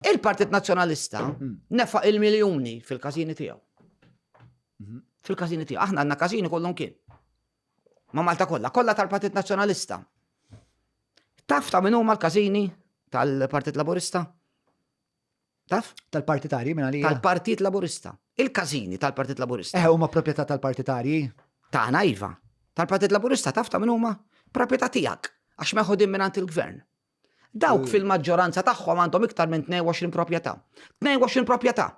Il-Partit Nazzjonalista hmm. nefaq il-miljuni fil-każini tiegħu. Hmm. Fil-każini tiegħu. Aħna għandna każini kollhom kien. Ma Malta kollha, kollha tal-Partit Nazzjonalista. Taf ta' min huma l-każini tal-Partit Laburista? Taf? Tal-partitarji minn għalija. Tal-Partit Laburista. Il-każini tal-Partit Laburista. Eh, huma proprjetà tal-partitarji? Ta' iva. Tal-Partit Laburista taf ta' min huma? Proprjetà tiegħek għax meħodin minn il-gvern. Dawk fil-maġġoranza tagħhom għandhom iktar minn 22 proprjetà. 22 proprjetà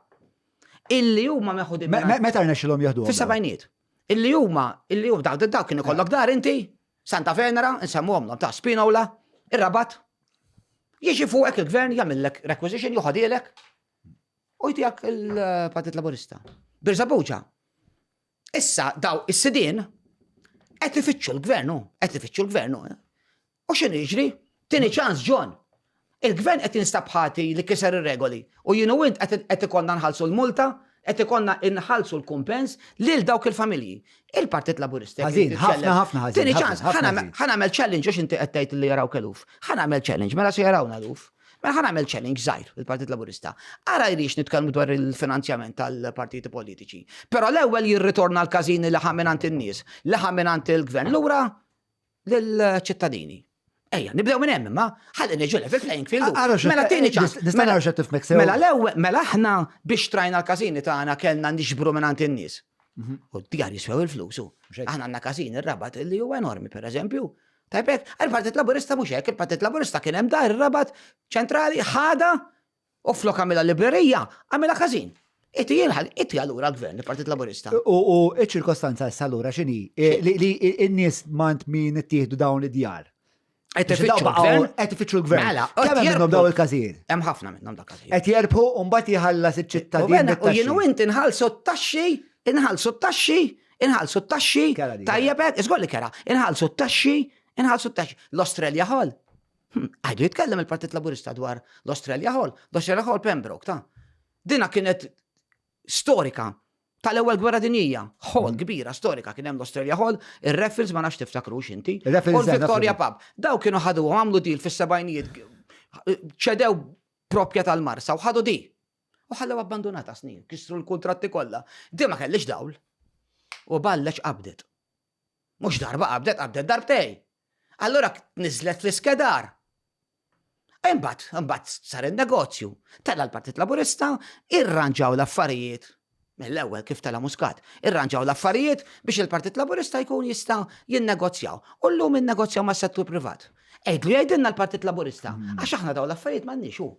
illi huma meħudin. Meta rnexxilhom jieħdu? Fis-sebgħiniet. Illi huma, illi huma dawk dawk kien ikollok dar inti, Santa Venera, insemmuhom ta' Spinola, ir-Rabat. Jiġi fuqek il-gvern jagħmillek requisition joħodilek u jtijak il-Partit Laburista. Birżabuġa. Issa daw is-sidin qed ifittxu l-gvernu, qed ifittxu l-gvernu. Eh? U x'inhu jiġri? Tieni ċans John. Il-Gvern qed jinstab ħati li kiser ir-regoli u jien u int qed ikollna nħallsu l-multa, qed ikollna nħallsu l-kumpens lil dawk il-familji. Il-Partit Laburista jekk irid jitkellem. Ħażin, ħafna, ħafna ħażin. Tieni ċans, ħa nagħmel challenge għax inti qed tgħid li jarawk eluf. Ħa nagħmel challenge, mela se jarawna eluf. Mela ħa nagħmel challenge żgħir il-Partit Laburista. Ara jrix nitkellmu dwar il-finanzjament tal-partiti politiċi. Però l-ewwel jirritorna l-każini li ħaminant in-nies, li ħaminant il-Gvern. Lura lill-ċittadini. Ejja, nibdew minn hemm imma, ħalli niġu level playing field. Mela tieni ċans. Nista' nara x'qed tifmek sew. Mela l-ewwel, mela aħna biex trajna l-każini tagħna kellna nixbru minn għand in-nies. Mhm. U d-djar jiswew il-flus. Aħna għandna każin ir-rabat li huwa enormi, pereżempju. Tajbek, il-Partit Laburista mhux hekk, il-Partit Laburista kien hemm dar ir-rabat ċentrali ħada U flok għamilha librerija, għamilha każin. Itti jilħal, itti għallura l-gvern, il-Partit Laburista. U ċ-ċirkostanza issa allura x'inhi? Li n-nies mant min ittieħdu dawn id-djar. Qed ifittxu l-gvern. Mela, kemm minnhom daw il-każijiet? Hemm ħafna minnhom dak każijiet. Qed jerbħu u mbagħad jħallas iċ-ċittadin. U jien u int inħallsu t-taxxi, inħallsu t-taxxi, inħallsu t-taxxi. Tajjeb, iżgolli kera, inħallsu t-taxxi, inħallsu t-taxxi. L-Australja ħol. Għadu jitkellem il-Partit Laburista dwar l-Australia Hall, l-Australia Hall Pembroke, ta' dina kienet storika tal-ewwel gwerra dinjija, hall kbira storika kien hemm l-Australia Hall, ir-Raffles ma nafx tiftakru x'inti. U l-Victoria Pub. Daw kienu ħadu għamlu dil fis-sebajnijiet ċedew propja tal-Marsa u ħadu di. U ħallew abbandonata snin, kisru l-kuntratti kollha. Di ma kellix dawl. U ballex qabdet. Mhux darba qabdet, qabdet darbtej. Allura tniżżlet fl-iskedar. Imbagħad, imbagħad sar in-negozju. Tela' l-Partit Laburista, irranġaw l-affarijiet mill-ewwel kif tela' Muscat. Irranġaw l-affarijiet biex il-Partit Laburista jkun jista' jinnegozjaw. U llum innegozjaw mas-settur privat. Għidlu jgħidilna l-Partit Laburista, għax aħna dawn l-affarijiet m'għandniex hu.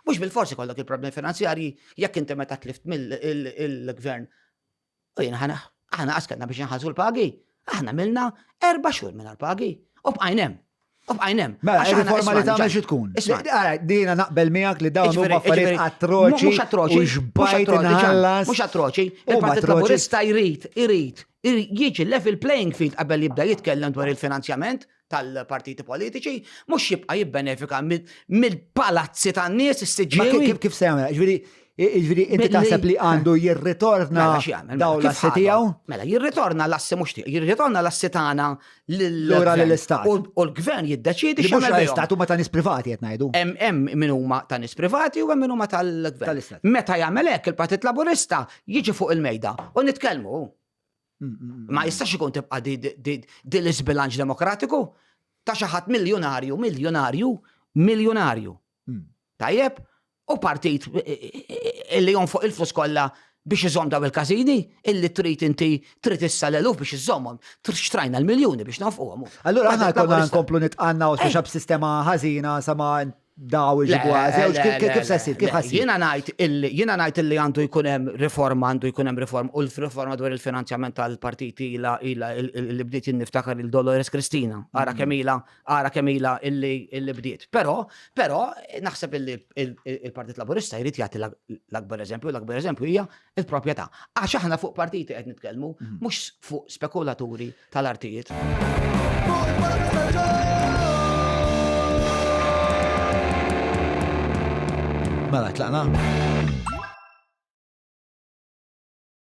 Mhux bilfors ikollok il-problemi finanzjarji jekk inti meta tlift mill-Gvern U jien ħana, aħna għaskanna biex nħalsu l-pagi, aħna milna erba xhur minn l-pagi. U bqajnem. U bqajnem. Mela, il-riforma li tagħmel xi tkun. Dina naqbel miegħek li dawn huma affarijiet atroċi. Mhux atroċi. Xbajt inħallas. Mhux atroċi. Il-Partit Laburista jrid, jrid, jiġi level playing field qabel jibda jitkellem dwar il-finanzjament. tal-partiti politiċi, mhux jibqa' jibbenefika mill-palazzi tan-nies is-siġġiewi. Kif kif se jagħmel? Ġifieri ġifieri inti taħseb li għandu jirritorna mela, daw mela, l-assi tiegħu? Mela jirritorna l-assi mhux tiegħu, jirritorna l-assi tagħna lura lill-istat. U l-gvern jiddeċiedi xi mhux l-istat huma ta' nies privati qed ngħidu. Hemm hemm min huma ta' nies privati u hemm min huma tal-gvern. Meta jagħmel hekk il-Partit Laburista jiġi fuq il-mejda u nitkellmu Ma jistax ikun tibqa' di l-isbilanċ demokratiku ta' xi ħadd miljonarju, miljonarju, miljonarju. Hmm. Tajjeb, u partit eh, eh, eh, illi jonfoq il-flus kollha biex iżomm daw il-kazini, illi trid inti trid issa l-eluf biex iżommhom, xtrajna l-miljuni biex nofquhom. Allura aħna konna nkomplu nitqanna u speċa b'sistema ħażina sama daw iġibu għażewġ, kif se jsir, kif ħassir? Jiena ngħid illi, jiena ngħid illi għandu jkun hemm riforma, għandu jkun hemm riforma, u l-riforma dwar il-finanzjament tal-partiti ilha, ilha, li bdiet jien niftakar lil Dolores Cristina, ara kemm ilha, ara kemm ilha illi, illi bdiet. Però, però, naħseb illi l-Partit Laburista jrid jagħti l-akbar eżempju, l-akbar eżempju hija l-proprjetà. Għax aħna fuq partiti qed nitkellmu, mhux fuq spekulaturi tal-artijiet. Mela, tlaqna?